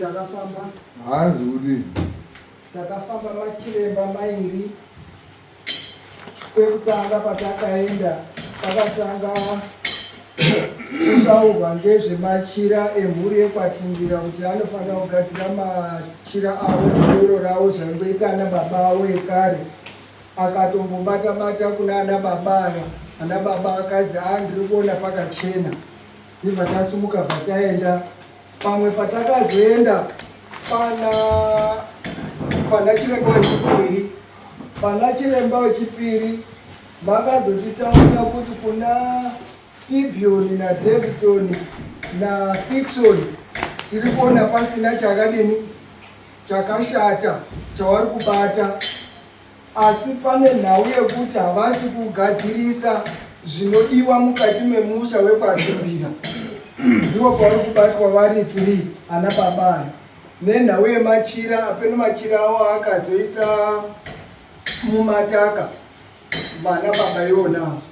takafamba haazi kuti takafamba machiremba mairi kwekutanga patakaenda pakatanga kutaurwa ngezvemachira emhuri yekwatingira kuti anofanira kugadzira machira avo doro ravo zvaingoita ana baba avo ekare akatombobata bata kuna ana baba aya ana baba akazi a ah, ndiri kuona pakachena ndibva tasumuka bva taenda pamwe patakazoenda pana pana chiremba wechipiri pana chiremba wechipiri Vakazotitaurira kuti kuna Fibioni naDevison naFixon tiri kuona pasina chakadini chakashata chavari kubata, asi pane nhau yekuti havasi kugadzirisa zvinodiwa mukati memusha wekwaZvibira. Ndivo pavari kubatwa vari three ana babana nenhau yemachira apeno machira awo akazoisa mumataka vana baba ivonazo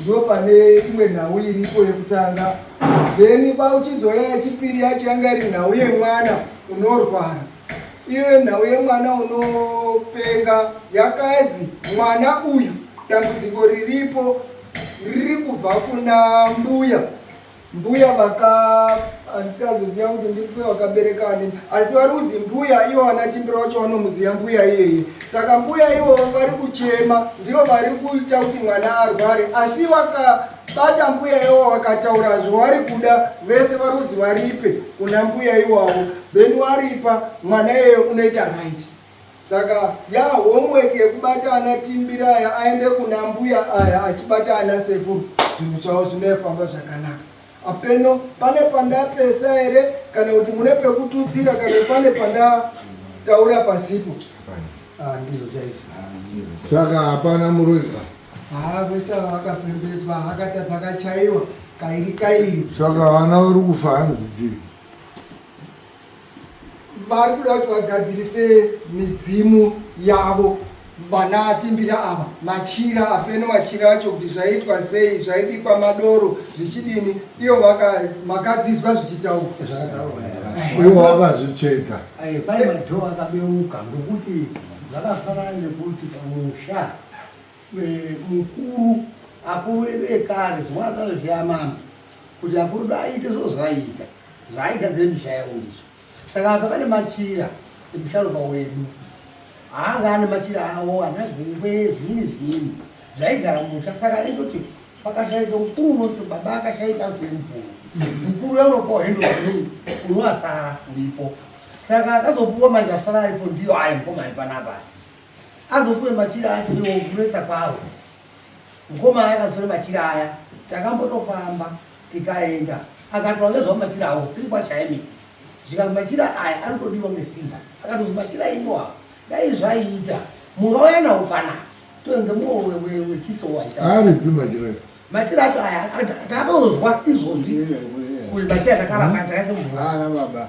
ndo pane imwe nhau iripo yekutanga then pauchizoya yechipiri yacho yanga iri nhau yemwana unorwara iyo nhau yemwana unopenga yakazi mwana uyu dambudziko riripo riri kubva kuna mbuya mbuya vaka andisazoziva kuti ndimbuya wakabereka ani asi vari kuzi mbuya ivo vana timbira vacho vanomuziva mbuya iyeye saka mbuya ivo vari kuchema ndivo vari kuita kuti mwana arware asi vakabata mbuya ivo vakataura zvavari kuda vese vari kuzi varipe kuna mbuya iwavo then waripa mwana iyeye unoita right Saka ya homework yekubata ana timbira aya aende kuna mbuya aya achibata ana sekuru zvinhu zvavo zvinofamba zvakanaka. Apeno pane pandapesa here kana kuti mune pekututsira kana pane pandataura pasipo. Ah, ndizvo chaizvo. Ah, Saka hapana muroiwa. Haa ah, vese vakapembedzwa hakatadza kachaiwa kairi kairi. Saka vana vari kufa hanzi dzii. vari kuda kuti vagadzirise midzimu yavo vana atimbira ava machira afeno machira acho kuti zvaitwa sei zvaibikwa madoro zvichidini iyo makadzizwa zvichitaurwa ivo vakazvicheka pai madhoo akabeuka ngokuti zvakafanana nekuti pamusha mukuru akuru edu ekare zimwe akazozviya mambo kuti akuru edu aite zvoo zvaaita zvaaigadzire misha yavo ndizvo saka apa pane machira emusharuka wedu haanga ane machira avo ana zvingwe zviini zviini zvaigara musha saka aitoti pakashaika mukuru unose baba akashaika zvemukuru mukuru yaunopawo hendo unoasara uripo saka akazopuwa manje asara aripo ndiyo ayo mkomani panapa azopuwe machira acho iwo kunetsa kwavo mukoma aya akazore machira aya takambotofamba tikaenda akatwa ngezvavo machira avo tiri kwachaimi zvikanzi machira aya anotodiwa ngesimba akatozi machira inoa dai zvaiita mungauya nawo panapa tonge muwewewechiso waita aripi machira machira acho aya takatozwa izvozvi kuti machira takarasa takaise mvura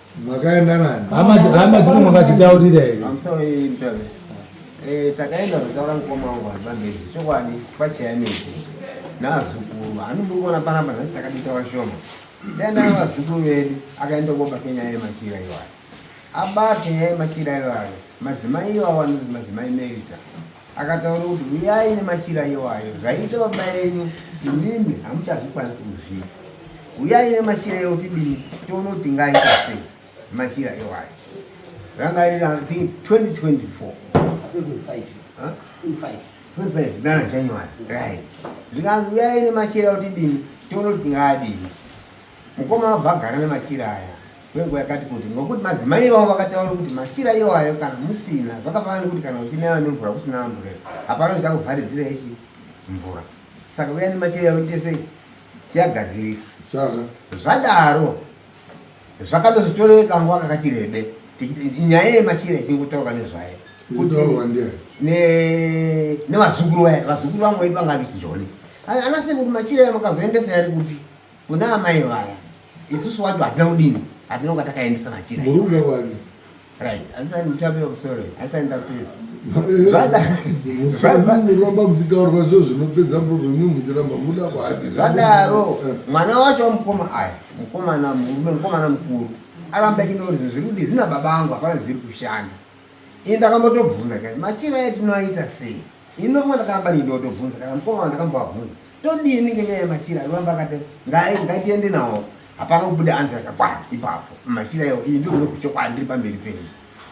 Makaenda nani? Hama hama dziko makadzitaurira here? I'm sorry mtabe. Eh takaenda kutaura mkoma wangu hapa mbezi. Chokwadi pachaya miti. Nazukuru anobukona panapa nasi takabita vashoma. Ndaenda na vazukuru vedu akaenda kuba Kenya yema chira iwayo. Abate yema chira iwayo. Madzimai iwayo anonzi madzimai Merita. Akataura kuti huyai nemachira iwayo zvaiita baba yenyu imimi hamuchazvikwanisi kuzviita. Huyai nemachira iwayo tidini tione kuti tingaita sei machira iwayo. Ranga riri I think 2024. 25. Huh? 25. 25 ndana January. Right. Zvikanzi huyai nemachira iwayo tidini tione kuti tingadini. Mukoma wabva agara nemachira aya kwenguva yakati kuti ngokuti madzimai ivavo vakataura kuti machira iwayo kana musina zvakafanana nekuti kana uchinaya nemvura kusina amburera hapana uchakuvharidzira ichi mvura saka uya nemachira yavo tese tiyagadzirisa saka zvadaro zvakatozotoreka nguva kakati rebe nyaya yemachira ichingotaurwa nezvayo nevazukuru vaya vazukuru vamwe vaipangavichijoni anasekuti machira yamakazoendesa yari kuti Kuna amai vaya isusu wacho hatina kudini, hatina kunga takaendesa machira. Murume wani? Right, asani mutape kusoro, asani ndapedza. Muramba muchitaurwa zvo zvinopedza problem muchiramba muda kwadi. Zvadaro eh. mwana wacho wamukoma aya, mukomana murume, mukomana mukuru aramba chinori zviri kuti zvina baba angu hapana zviri kushanda. Ini ndakambotobvuna kani machira etinoaita sei? Hino mwana kana bani ndotobvunza kana mukoma ndakambovabvunza todini ngenyaya yemachira anoramba akati ngai ngatiende nawo hapana kubuda anzi akakwana ipapo machira iwo iyi ndiro kunoku chokwadi ndiri pamberi penyu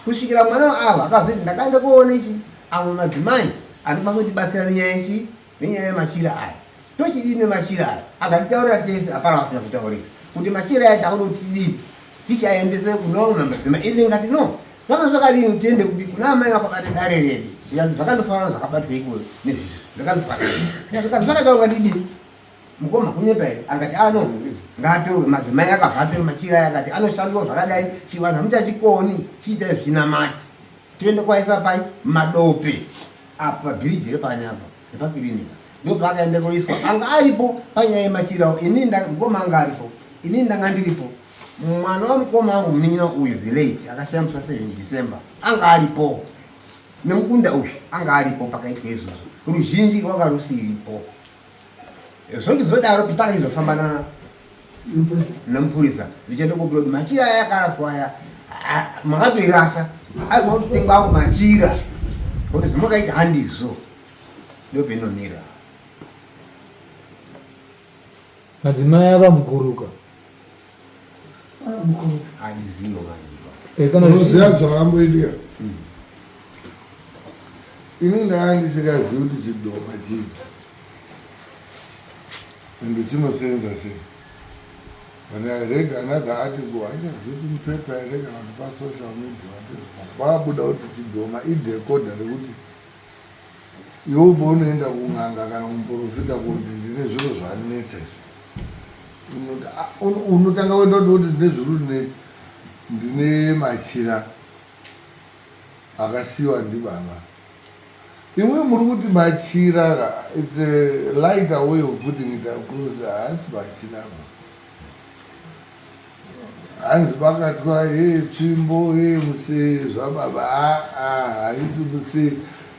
kusvikira mwana avo akazoti ndakanga kuona ichi amwe madzimai anopa kundibatsira nenyaya ichi nenyaya yemachira aya tochidii nemachira aya akanditaurira tese hapana vasina kutaurira kuti machira aya takuda kuti tidii tichaendese kuno madzimai ilinga tino Zvanga zvakadini tiende kupi kuna amai vako kati dare redu zvikanzi zvakandofanana zvakabatwa ikolo nezvizvi zvakandofanana zvikanzi zvakaita ungadidii mukoma kunyepa here akati ano ngatorwe madzimai akavhape machira akati anoshandwa zvakadai chivanhu hamuchachikoni chiita zvinamati toende kwaisa pai madope apo pabhiriji repanyapa repakirinika ndo paakaenda koiswa anga aripo panyaya yemachirawo ini mukoma anga aripo ini ndanga ndiripo mwana wamukoma wangu munin'ina uyu the late akashaya musi wa 7 december anga aripo nemukunda uyu anga aripo pakaitwa izvozvo ruzhinji rwanga rusiripo zvonge zvodaro kuti paka izofamba namupurisa zvichaenda kobuda kuti machira aya akaraswa aya makatoirasa aizwa kuti tenga wangu machira kuti zvimakaita handizvo ndopenomira Madzimai ava mukuruka. Unoziva zvakamboitika? Ini ndanga ndisikazivi kuti chidoma chii and chinosenza sei. When I read another article, haichazivi kuti mupepa here kana kuti pasocial media, kwabuda kuti chidoma idecoda rekuti Iwe paunoenda kun'anga kana kumuporofita kuti ndine zviro zvandinetsa izvi unotanga kuenda kuti kuti ndine zviri kundinetsa ndine machira akasiyiwa ndibaba imwe muri kuti machira its a lighter way of putting it across haasi machira ba hanzi pakatwa ye tsvimbo ye muse zvababa haisi muse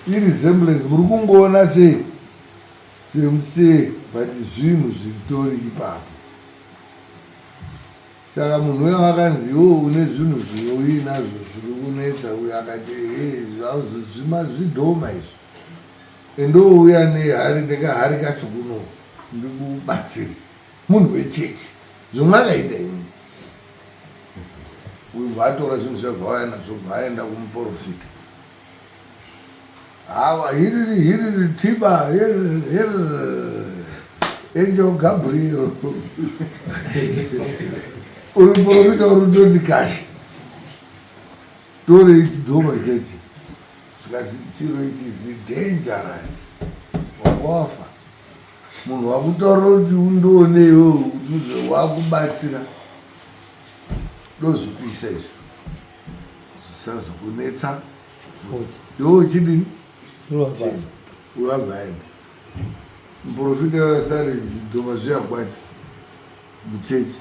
iresemblance muri kungoona se semuse but zvinhu zviritori ipapo saka munhu uya wakanzi iwo une zvinhu zvinoinazvo zviri kunetsa uyo akati he zvima zvidhoma izvi endouya nehari nekahari kacho kuno ndikubatsiri munhu wechechi zvomwakaita imi uyu bvatora zvinhu zvavauya nazvo bvaaenda kumuporofita hawa hiriri hiriri tiba angel gabriel uyu muporofita uri ndoti kashi tore ichi dhoma chechi zvikazitiro ichi zi dangerous wakofa Munhu wakutaura kuti undione iwewe kuti wakubatsira ndozvipisa izvi zvisazokunetsa iwe uchidi uvavaini muprofita wasare zvidhoma zviyakwati muchechi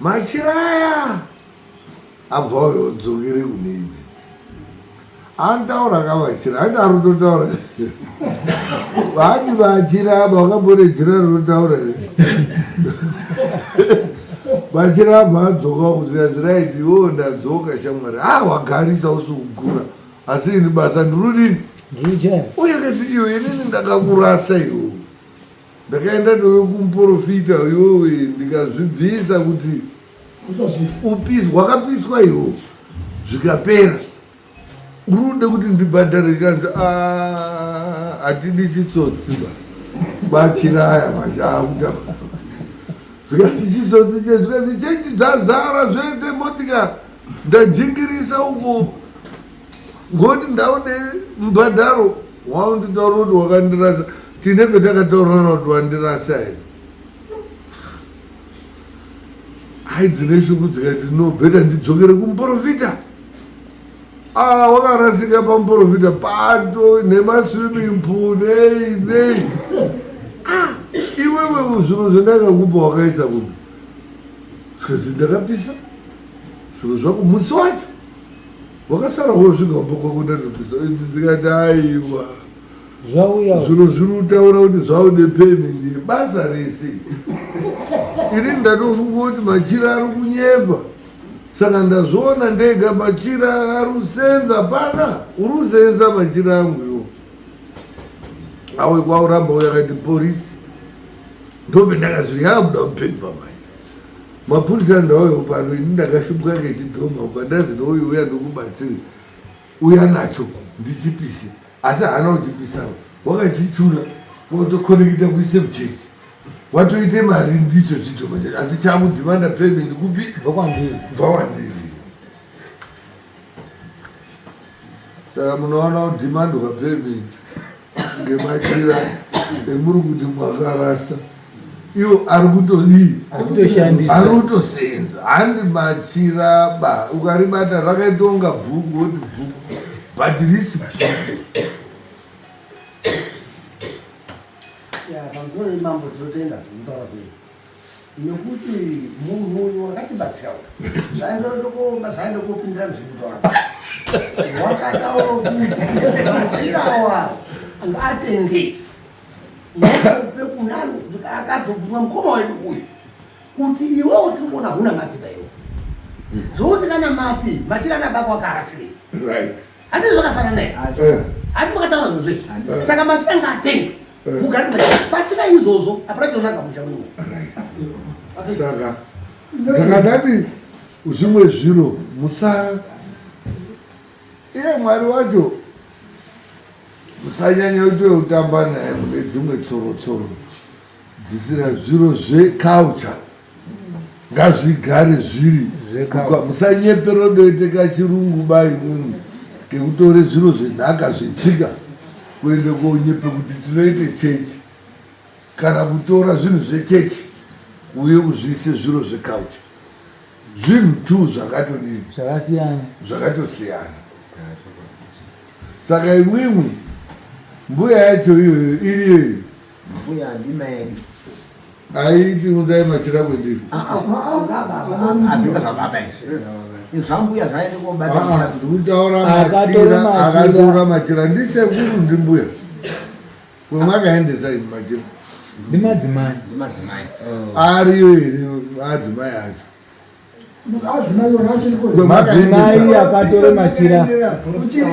machira aya abva uyo dzokere kune idzi anotaura ka machira aiti ari kutotaura vaati machira aba wakambone jira rinotaura machira abva adzoka kuzvirazira iti wo ndadzoka shamwari a ah, wagarisa usukugura asi ini basa ndirudini uye kati iyo inini ndakakurasa iwo ndakaenda ndove kumuporofita yowe ndikazvibvisa kuti upisi wakapiswa iwo zvikapera urude kuti ndibhadhare kanzi ah, hatidisi tsotsi ba bachiraya machakuta zvikasi chitsotsi che zvikasi chechi dzazara zvese motika ndajingirisa uko ngoti ndaone mbhadharo waunditaura kuti wakandirasa tine petakataurana kuti wandirasa here hai dzine shuku dzikati no beta ndidzokere kumuprofita aa ah, wakarasika pamuprofita pato nemaswimming pool nei nei ah, iwewe zviro zvendakakupa wakaisa kupi zvikazii ndakapisa zviro zvako musi wacho wakasara wosvika kumba kwako ndatokuza idzi dzikati aiwa zvauya zvino zviri kutaura kuti zvaude payment iri basa rese ini ndatofunga kuti machira ari kunyepa saka ndazviona ndega machira ari kusenza pana uri kusenza machira angu yo awe kwauramba uyakati porisi ndobe ndakazoyabuda mupepa manje mapurisa ndauya pano ini ndakashumbwa ngechidhoma ubva ndazi nouyu uya ndokubatsiri uya nacho ndichipise asi haana kuchipisawo wakachichura watokonekita kuise muchechi watoite mari ndicho chidhoma chacho asi chamudhimanda payment kupi bva kwandiri saka munoona kudhimandwa payment ngemachira emuri kuti mwakarasa iwo ari kutodii ari kutoseenza handi machira ba ukaribata rakaitoonga bhuku woti bhuku but risi bhuku Yeah, I'm very mambo to the end of the nekuti munhu uyu wakatibatsira zvaindotokomba zvaindokopindira zvekutaura wakataura kuti machirawa ngatenge nokupe kunani akatobvuma mukoma wedu uyu kuti iwewo tiri kuona huna mati daiwo zvousikanamati machira anabako akaasirei hati zvakafanana here hati makataura zvozve saka machira ngaatenge kugara machira pasina izvozvo hapana chinonaga musha mumwe saka ndakadati zvimwe zviro musa iye mwari wacho musanyanya kuti utamba naye mune dzimwe tsorotsoro dzisira zviro zveculture ngazvigare zviri musanyepero doiteka chirungu bai munhu kekutore zviro zvenhaka zvetsika kuende konyepe kuti tinoite chechi kana kutora zvinhu zvechechi uye kuzviise zviro zvekaucha zvinhu two zvakatodii zvakasiyana zvakatosiyana saka imwimwi mbuya yacho iyoyo iriyoyo Mbuya handina yedu. Aiti mudai machira kwendiri. Ah, ah, ah, Ndikutaura machira ndisekuru ndimbuya. Kwemwakaendesa imi machira. Ndimadzimai. Ariyo iri adzimai acho. Madzimai akatore machira. Uchiri.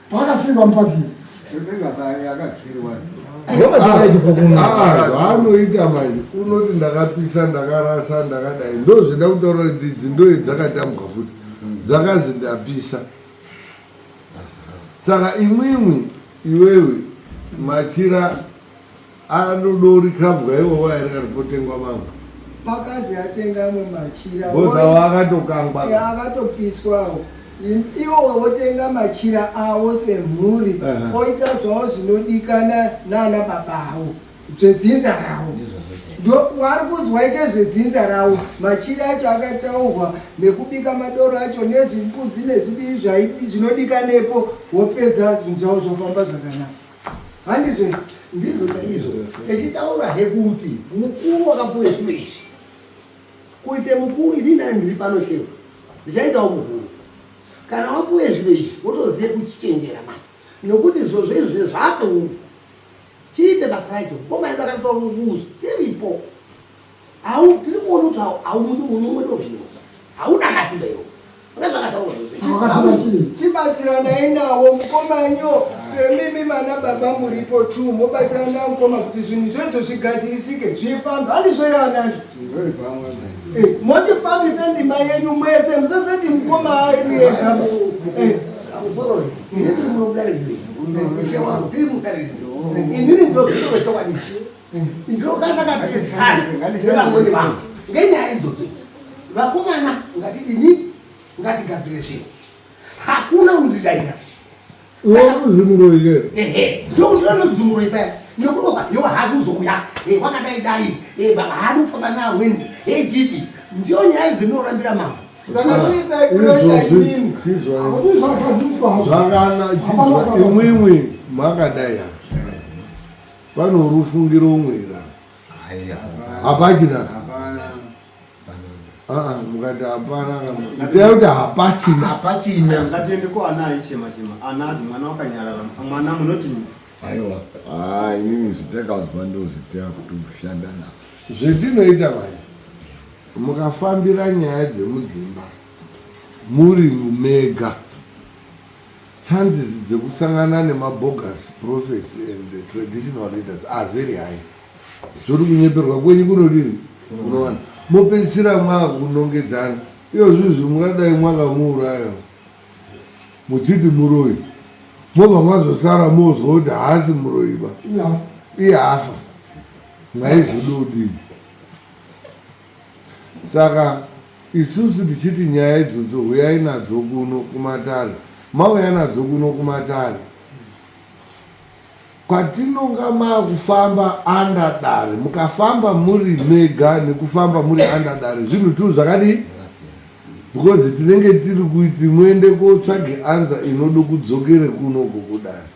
Paakatsirirwa mupazini. Anoita manje unoti ndakapisa ndakarasa ndakadai ndozvida kutaura kuti idzi ndoye dzakatambwa futi dzakazi ndapisa saka imwimwi iwewe machira anodori kabwa iwowo airi kari potengwa mamwe pakazi atenga amwe machira bozawo akatokangwa e, akatopiswawo iwowe wotenga machira awo semhuri uh -huh. oita zvawo zvinodikana naana baba awo zvedzinza rawo ndokwari kuzwa ite zvedzinza rawo machiri acho akataurwa nekubika madoro acho nezvifudzi nezvidii zvaii zvinodikanepo wopedza zvinhu zvavo zvofamba zvakanaka handizve ndizvo chaizvo echitaura hekuti mukuru wakapuwe zvino izvi kuite mukuru ini ndani ndiri pano sheku ndichaitawo mukuru kana wapuwe zvino izvi wotozive kuchichenjera mai nokuti zvozvo izvi zvaatoungu chiite basa racho komaedu akatoa mukuzo tiripo Hau tiri kuona kuti hau hau mundi uno mwedo zvino. Hauna matimba iwo. Tibatsira ndaendawo mukomanyo semimi mana baba muripo tu mobatsira nda mukoma kuti zvinhu zvoizvo zvigadzirisike zvifamba handizvoirava nazvo eh, motifambise ndima yenyu mwese musaseti mukoma airi ega inini ndozvinovetowadishi ndokandakapedzana nevamweni vangu ngenyaya idzodzo vakomana ngati ini ngatigadzire zvinhu hakuna undidaira ndokuzimuroipeaozimuroyi paya nokuroka yo hazi uzokuya eh, wakadai dai eh, baba haadi kufamba neamweni ejichi eh, ndiyo nyaya izinorambira mambo zvakana imwimwi makadai vanorufungiro umwera hapachina ah, mukati hapana itai kuti hapachina hapachina ngatiende ko ana aichema chema ana ati mwana wakanyarara mwana munoti aiwa ah, inini zvitakazwa ndozvitea kuti kushanda navo zvetinoita manje mukafambira nyaya dzemudzimba muri mumega Chances dzekusangana nemabogus prophets and the traditional leaders are very high. Zvori kunyeperwa kwenyu kunodini? Unowana mopedzisira mwakunongedzana iyo zvinhu zviri mungadai mwakamuuraya muchiti muroyi mobva mwazosara mozwa kuti haasi muroyiba iye afa mwaizvidi udini Saka isusu tichiti nyaya idzodzo huyai nadzo kuno kumatare, mauya nadzo kuno kumatare kwatinonga makufamba andadare mukafamba muri mega nekufamba muri andadare zvinhu tu zvakadii because tinenge tiri kuti muende kotsvage anza inodo kudzokere kuno kukudare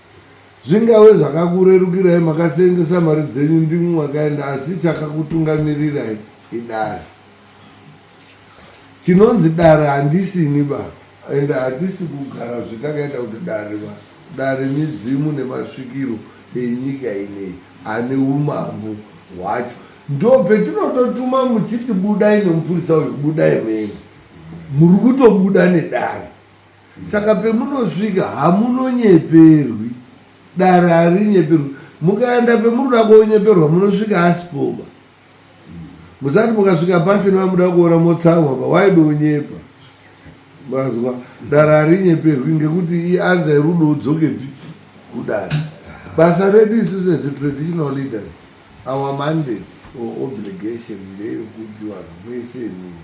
Zvingave zvakakurerukirai makaseenzesa mari dzenyu ndimwi makaenda asi chakakutungamirirai idare. Chinonzi dare handisini ba and hatisi kugara zvetakaita kuti dare ba dare midzimu nemasvikiro enyika ineyi ane umambo hwacho ndo petinototuma muchiti budai nemupurisa uyu budai mene muri kutobuda nedare Saka pemunosvika hamunonyeperwi, dare harinyeperwi. Mukaenda pemunoda konyeperwa munosvika asipoba. Musati mukasvika pasi nevamuda kuona motsamwa pa waida unyepa. Mazwa dare harinyeperwi ngekuti ianza yerudo udzokepi kudare. Basa redu isu sezi traditional leaders our mandate or obligation ndeyokuti vanhu mwese imimi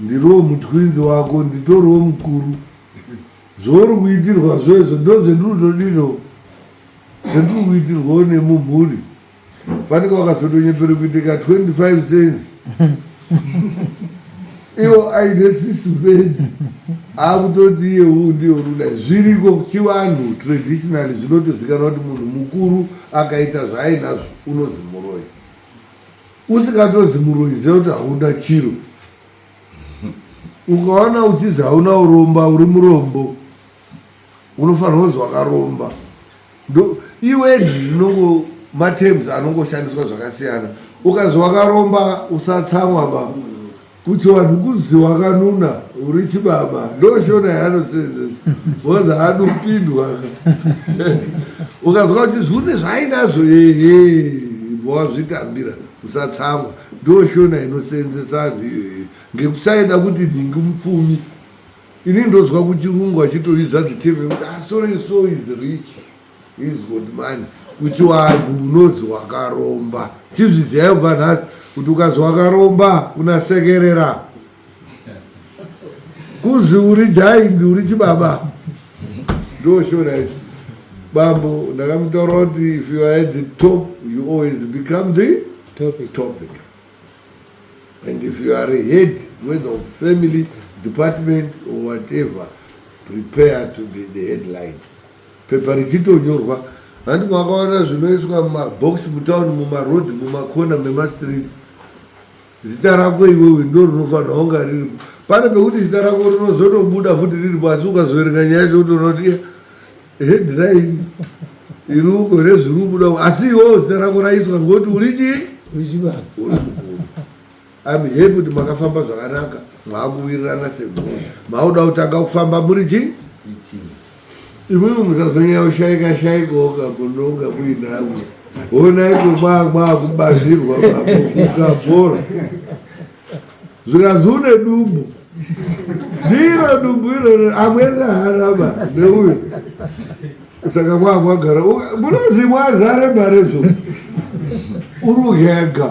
Ndiriwo mutwinzi wako nditoriwo mukuru zvouri kuitirwa zvoizvo ndozvendinotodiro zvendiri kuitirwawo nemumhuri fanike wakazotonyepere kuiteka 25 cents iwo aine sisi bedzi akutoti iye uu ndiye urudai zviriko chivanhu traditionally zvinotozikanwa kuti munhu mukuru akaita zvaainazvo unozi muroi usingatozi muroyi ziva kuti hauna chiro ukaona uchizi hauna uromba uri murombo unofanirwa kunzi wakaromba iwe ndinongo matems anongoshandiswa zvakasiyana ukazi wakaromba usatsamwa ba kuchivanhu kuzi wakanuna uri chibaba ndoshona yaanoseenzesa bcause anopindwa ukazwa kuti zvune zvainazvo ehe ibva wazvitambira usatsamwa ndoshona inoseenzesa anhu iyoyo ngekusaida kuti nhingi mupfumi ini ndozwa kuchirungu achitoiza dzitirve kuti asore ah, so is rich He's good man kuti wanhu unozi wakaromba tizviziyayo bva nhasi kuti ukazi wakaromba unasekerera kuzi uri jaindi uri chibaba ndoshona ichi bambo ndakamutaura kuti if you are at the top you always become the topic, topic. and if you are a head whether of family department or whatever prepare to be the headline Pepa richitonyorwa handi makaona zvinoiswa mumabhokisi mutown mumarodhi mumakona memastreets zita rako iwewe ndo rinofanira kunga riripo pane pekuti zita rako rinozotobuda futi riripo asi ukazoverenga nyaya yacho utoona kuti headline iruko here zviri kubuda asi iwewo zita rako raiswa ngokuti uri chii uri chibaa I'm happy kuti makafamba zvakanaka mwakuwirirana seguru mauda kutanga kufamba muri chi imwimwe musazonyaya kushaika shaikoka munonga muinamwe honai kumwamwa kubazirwa kukabhora zvikanzi une dumbu zviro dumbu iroro amwese harama neuyo saka kwakwagara munozimwa zare mare zvo urugega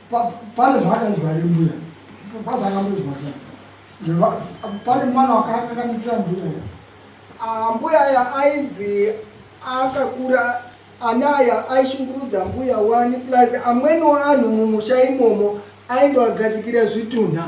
pane zvaakaizwa ne mbuya kwazi akamboizwa sei pane mwana wakakanganisira mbuya ya ah, mbuya ya ainzi akakura anaya aishungurudza mbuya wani plus amweniwo anhu mumusha imomo aindowagadzikira zvitunha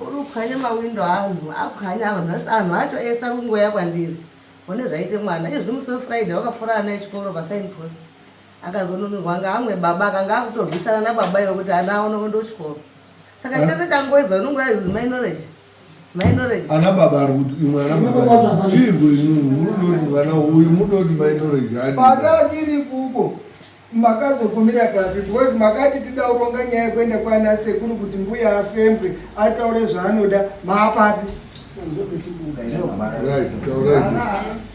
Uruphwanye mawindo anhu aphwanya vanhu vese anhu acho ese ari kungoya kwandiri one zvaite mwana izvi musi wefriday wakafura ana echikoro pasign post akazonunurwa anga amwe baba akanga akutorwisana nababa ivo kuti ana aone kuenda kuchikoro saka eh? chese changoedza unongo yazizi my knowledge my knowledge ana baba ari kuti imwe ana baba zvirwe inunu mudoti vana uyu mudoti my knowledge adi pata tiri kuko Makazogumira papi because makati tida kuronga nyaya yekuenda kwana sekuru kuti mbuya afembwe ataure zvaanoda maapapi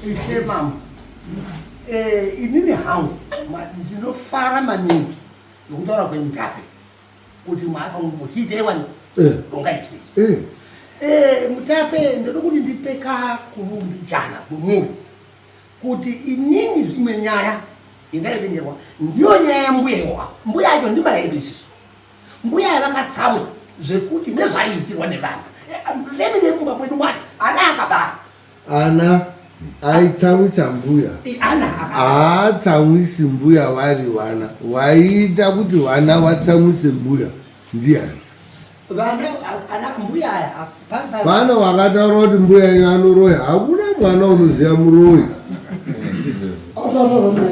ishe mama eh, inini hangu ndinofara maningi nokutaura kwendape kuti mwaakamuchiiteiwani eh. ronga itwe eh. eh, mutape ndoda kuti ndipeka kurumbijana kwemuri kuti inini zvimwe nyaya yendaivinirwa ndiyo nyaya yambuya iwawa mbuya yacho ndimahedu isisu mbuya yavakatsamwa zvekuti nezvaiitirwa nevana family yemumba mwedu wati ana akabara ana aitsawisa mbuya haatsawisi mbuya vari vana waiita kuti vana watsawise mbuya ndiani vana vakataura kuti mbuya yenyu anoroya hakuna mwana unoziva muroyi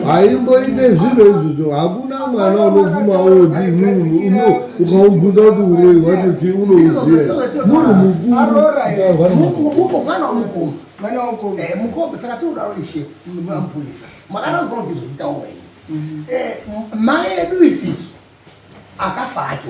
haimboite zvinhu izvozvo hakuna mwana unofuma oti munhu ukaubvunza kuti uroi wacho chii unouziva munhu mukuru mwana wako eh mukombe saka tinoda ishe mapurisa makada kuona kuti zvinoita wewe eh mai edu isisu akafa acho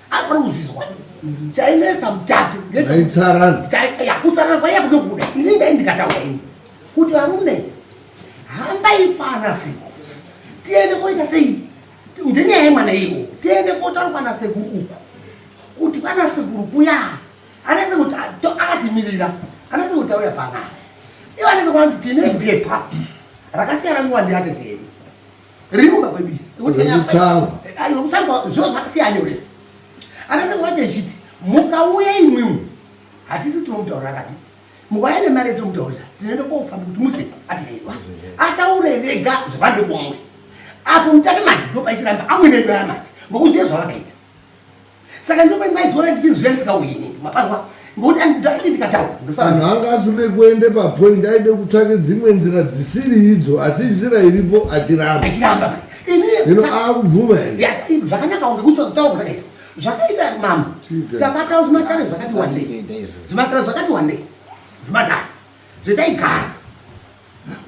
anofanira kuzvizwa chainesa mutatu kutsarana kwaiya kuda kuda ini ndai ndikataura ini kuti varume hambai kwana sekuru tiende koita sei ngenyaya yemwana iwo tiende kotaura kwana sekuru uku kuti kwana sekuru kuya anese kuti akatimirira anese kuti auya panapa ivo anese kuti tine bepa rakasiyana miwandi yatetedu Remember baby. Rekutanga. Ayo rekutanga zviro zvakasiyana yorese. Anase kwaje chiti mukauya imwimu hatisi tinomutaurira kadi. Mukauya nemari yetomutaurira tinoenda kofamba kuti muse atireva. Ataure vega zvavande kumwe. Apo mutati manje ndopaisiramba amwe ndoya manje. Ngokuziye zvavakaita. saka ndinopa maizoona kuti izwi yandisikauhine mapanwa ngokuti andidai ndikataura ndosaaanhu anga aside kuende papoint aide kutsvake dzimwe nzira dzisiri idzo asi nzira iripo achiramba achiramba ino akubvuma zvakanaka unge kusa kutaura kuda izvo zvakaita mama takataura zvimatare zvakati wandei zvimatare zvakati wandei zvimatare zvetaigara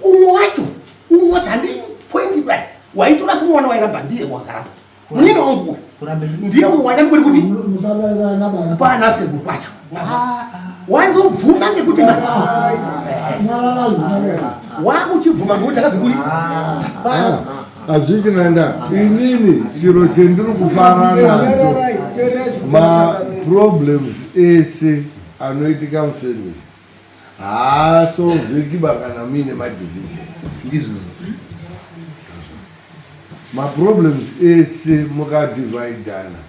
umwe wacho umwe wati handii point kudai waitora kumwana wairamba ndiye wagarapo munini wangu uyu ndiye waida kuti kuti pana sebo kwacho waizobvuma ngekuti wakuchibvuma ngekuti akazokuri hazvisi nanda inini chiro chendiri kufara nacho maproblems ese anoitika mufamily haa so zvekiba kana muine madivision ndizvozvo maproblems ese mukadivaidana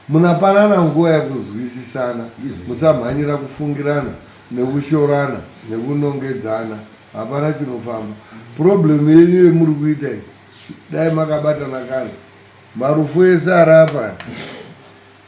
munapanana nguva yakuzwisisana musamhanyira kufungirana nekushorana nekunongedzana hapana chinofamba problem yenyu yemuri kuita dai makabatana kare marufu ese arapa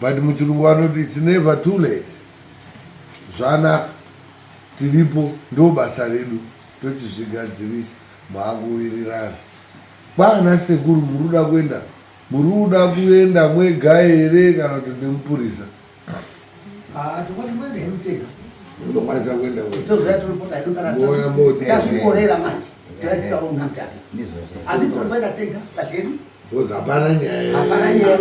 but muchirungu vanoti its never too late zvanaka tiripo ndo basa redu tochizvigadzirisa maakuwirirana kwaana sekuru muri kuda kuenda muri kuda kuenda mwega here kana kuti ndimupurisa ah, unokwanisa kuenda mwegaoya moti Because hapana nyaya. Hapana nyaya.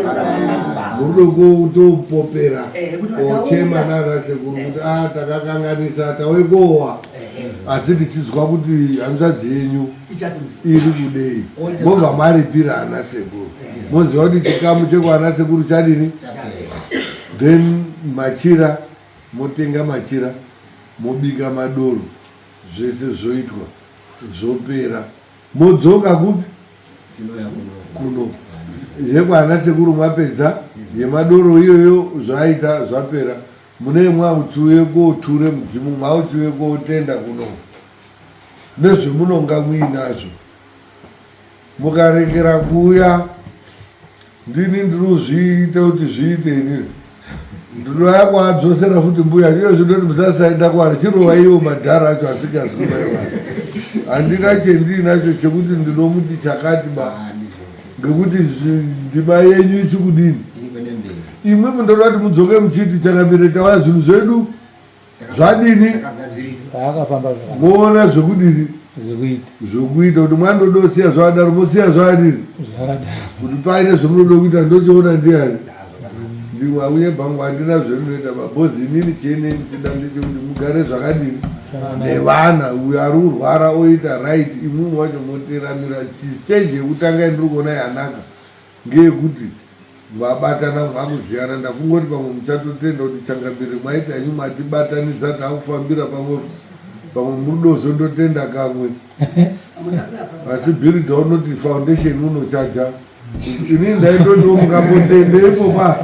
Murudoko topopera. Eh, Ochema nana sekuru kuti ah takakanganisa tauye kowa. Eh, eh. Asi tichizwa kuti hanzvadzi yenyu iri kudei. Mobva maripira ana sekuru. Moziva kuti chikamu chekwana sekuru chadini? Then machira motenga machira mobika madoro zvese zvoitwa zvopera. Modzoka kupi? Tinouya kuno. Yekwana sekuru mapedza yemadoro iyoyo zvaita zvapera. Mune mwautsiuye koture mudzimu mwautsiuye kotenda kuno. Nezvemunonga muinazvo. Mukarekera kuuya ndini ndiri kuzviita kuti zviite inini ndinoya kuadzosera futi mbuya iyo zvinoti musasaenda kwari chirova ivo madhara acho asingaziva iva handina chendiinacho chekuti ndinomuti chakati ba ngekuti ndima yenyu ichi kudini imwe mundorati mudzoke muchiti changamire chawaya zvinhu zvedu zvadini akafamba voona zvekudini zvekuita kuti mwana ndoda kusiya zvakadaro mosiya zvakadini kuti paine zvemunoda kuita ndochiona ndiani ndimwe auye bhangu handina zvemunoita babhozi inini chienei muchida ndichi kuti mugare zvakadini nevana uyo ari kurwara oita right imwimwe wacho moteramira stage yekutanga yandiri kuona yanaka Ngeyekuti mabatana makuziyana ndafungoti pamwe muchatotenda kuti changambire mwaita henyu matibatanidza takufambira pamwe pamwe murudozo ndotenda kamwe asi builda unoti foundation unochaja ini ndaitoti mukambotenda ipopa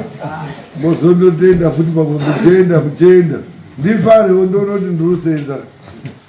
mozondotenda futi pamwe muchenda muchenda ndifarewo ndonoti ndiri kusenza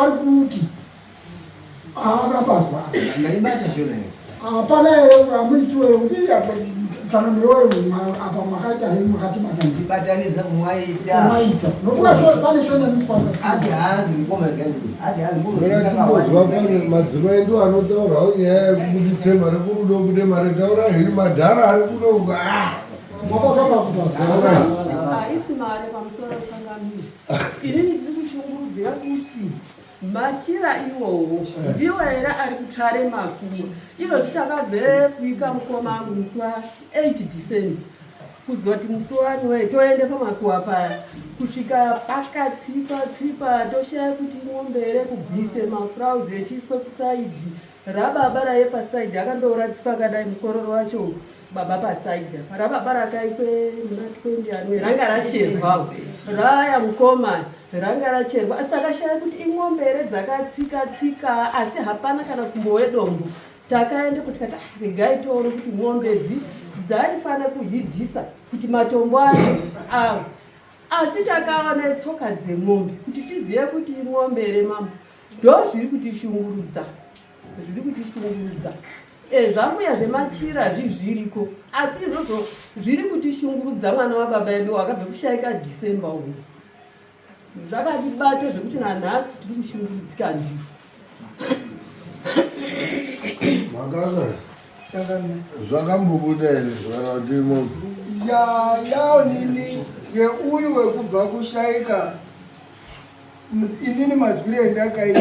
ari kuti haana pazwa ndaibata zvona hapana amuitiwe kuti tsanangiro apa makaita he makatibata ndibatanidza kumwaita mwaita nokuva pane shonamisangaadihazikumaazwa pane madzimai ndo anotaurawo nyaya yekubuditse mari kurudo kude mari taura hiri madhara ari kuno makakambakuaa Ini ndiri kushungurudzira kuti machira iwowo ndiwo here ari kutare makuwa iro zitakabve kuika mukoma angu musi wa 8 december kuzoti musi wani wee toende pamakuwa paya kusvika pakatsipa tsipa toshaya kuti mombe here kubvise mafrauzi echiiswe kusaidhi rababa raye pasaidhi akandouratsipa akadai mukororo wacho baba pasaija rababa rakaitwe muna 20 anwe ranga racherwawo raya mukoma ranga racherwa asi takashaya kuti imwombe here dzakatsika tsika asi hapana kana kumbowe dombo takaende kuti kati ah, regai toone kuti mwombe dzi dzaifanira kuhidhisa kuti matombo ayo awo asi takaone tsoka dzemwombe kuti tizive kuti imwombe here mambo ndo zviri kutishungurudza zviri kutishungurudza eh, zvamuya zvemachira zvizviriko asi izvozvo zviri kutishungurudza mwana wababa edu wakabve kushaika december uyu zvakatibata zvekuti nanhasi tiri kushungurudzika ndizvo makaka zvakambobuda here zvaratimo yayaonini yeuyu wekubva kushaika inini mazwiro endakaita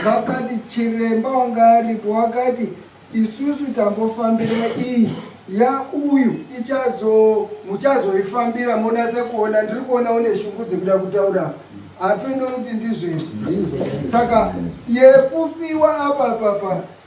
vakati chiremba wanga aripo wakati isusu tambofambira iyi ya uyu ichazo muchazoifambira monatsa kuona ndiri kuona une shungu dzekuda kutaura hapeno kuti ndizvei saka yekufiwa apa papa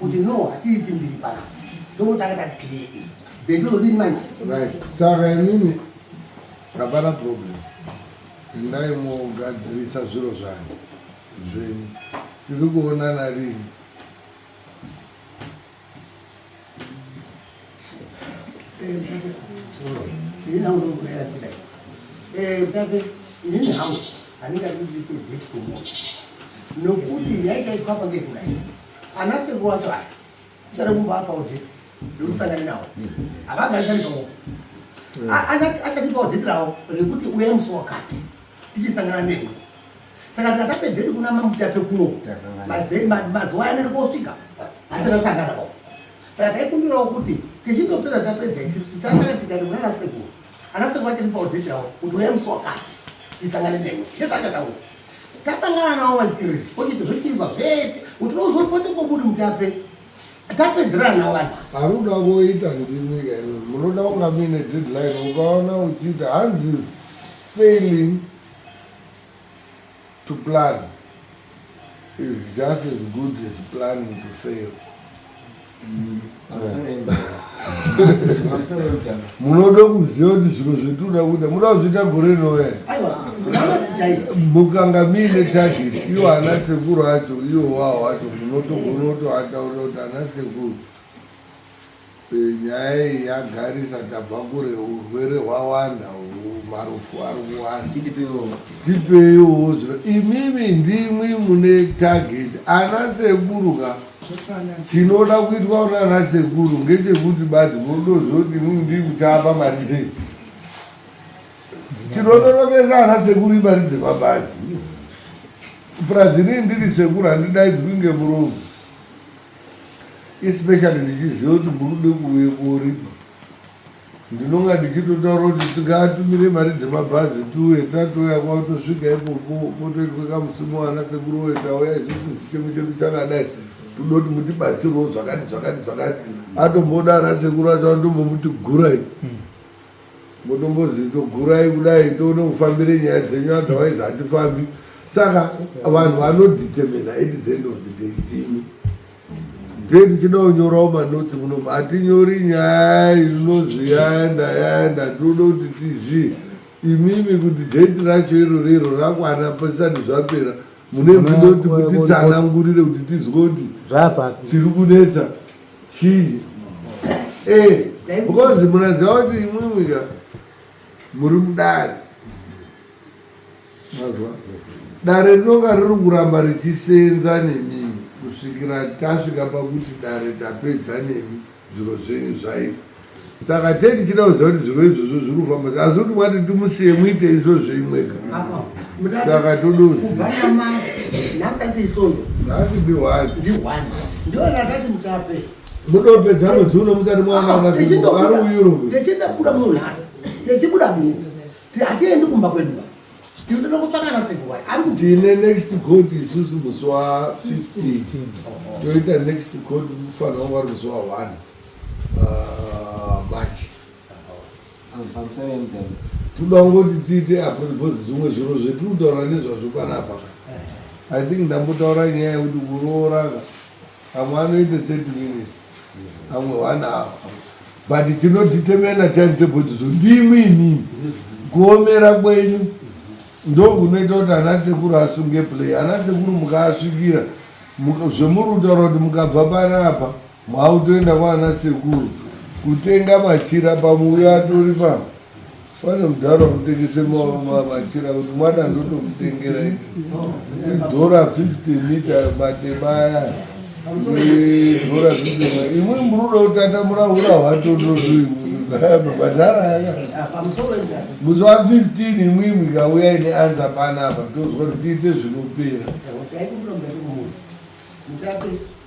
kuti no hatiiti mbiri pana ndokutanga tati kiredi bendozodini manje saka inini hapana problem endai mogadzirisa zviro zvanyu zvenyu tiri kuonana rini ina unokuera kudai utape inini hangu handingadi kuti ipe date komoto nokuti yaikaitwa pakekudai Ana sekuru wacho aya uchada kumba apa udheti ndokusangana nawo havagarisani paoko achatipa udheti rawo rekuti uya musi wakati tichisangana newe saka tika tapedheti kuna mamutape kuno mazuva yaneri kosvika hatinasangana pao saka taikumbirawo kuti tichindopedza tapedza isisu tichangana tikati munana sekuru ana sekuru vachiri paudheti ravo kuti uya musi wakati tisangane nemwe ndezvaachataura tasangana navo vachiriri okiti zvochiizwa zvese kuti unozopote koburi mutape tapedzerana navo vanhu haruda voita ndimi kaino munoda kunga muine deadline ukaona uchiita hanzi failing To plan is just as good as planning to fail. Mm, munoda kuziva kuti zviro zvetinoda kuita munoda kuzviita gore rinouya mukanga muine target iwo ana sekuru acho iwo wawo acho munotogonotoataura kuti ana sekuru Nyaya iyi yagarisa tabva kure urwere hwawanda marufu ari kuwanda tipeiwo imimi ndimwi mune target ana sekuru ka tinoda kuitwa kuti ana sekuru ngechekuti bati modozoti imimi ndiri kutapa mari dzei tinonorokesa ana sekuru imari dzepabhazi purazi rii ndiri sekuru handidaidzwi ngemuromo especially ndichiziva kuti murude kuuye koripa ndinonga ndichitotaura kuti tingaatumire mari dzemabhazi tuye tatoya kwatosvika ipopo potoitwe kamusimu ana sekuru woye tauya isusu zvichemu chedu chakadai toda kuti mutibatsirwo zvakati zvakati zvakati atombodara sekuru acho andombomuti gurai hmm. motombozi togurai kudai toone kufambire nyaya dzenyu otherwise hatifambi saka vanhu vanodetermina at the end of the day ndimi nde ndichida kunyorawo manotsi muno hatinyori nyaya inonzi yaenda yaenda tinoda kuti tizvi imimi kuti date racho irori iro rakwana pasati zvapera mune ndinoti kutitsanangurire kuti tizwe kuti tiri kunetsa chii eh because munaziva kuti imwimwi ka muri mudare mazwa dare rinonga riri kuramba richisenza nemi kusvikira tasvika pakuti dare tapedza nemi zviro zvenyu zvaita saka tee tichida kuziva kuti zviro izvozvo zviri kufamba saka asi kuti wati timusiye muite izvozvo imweka saka todoziasibihwani mudope dzano dzuno musati mwanaaariuyurotichida kuda munhu nhasi tichibuda munhu hatiendi kumba kwedu ba tinotoda kutsvakana sekuwai ari kuti tine next court isusu musi wa 15 toita next court mufanira wanga ri musi wa 1 uh, machi toda kungoti tiite apo because zvimwe zviro zvetiri kutaura nezvazvo panapa i think ndambotaura nyaya yekuti kurooraka amwe anoite thirty minutes amwe one hour but tinotitemena time table tizo ndimi inini kuomera kwenyu ndokunoita kuti ana sekuru asunge play ana sekuru mukaasvikira zvemuri kutaura kuti mukabva panapa Mautoenda kwaana sekuru kutenga machira pamuuya atori pa pane mudhara unotengese machira kuti mwana ndotomutengera idhora 50 mita matema aya idhora 50 imwe muruda kutatamura hura hwatondozvii mabhadhara aya musi wa 15 imwimwi kauya ine anza panapa tozwa kuti tiite zvinopera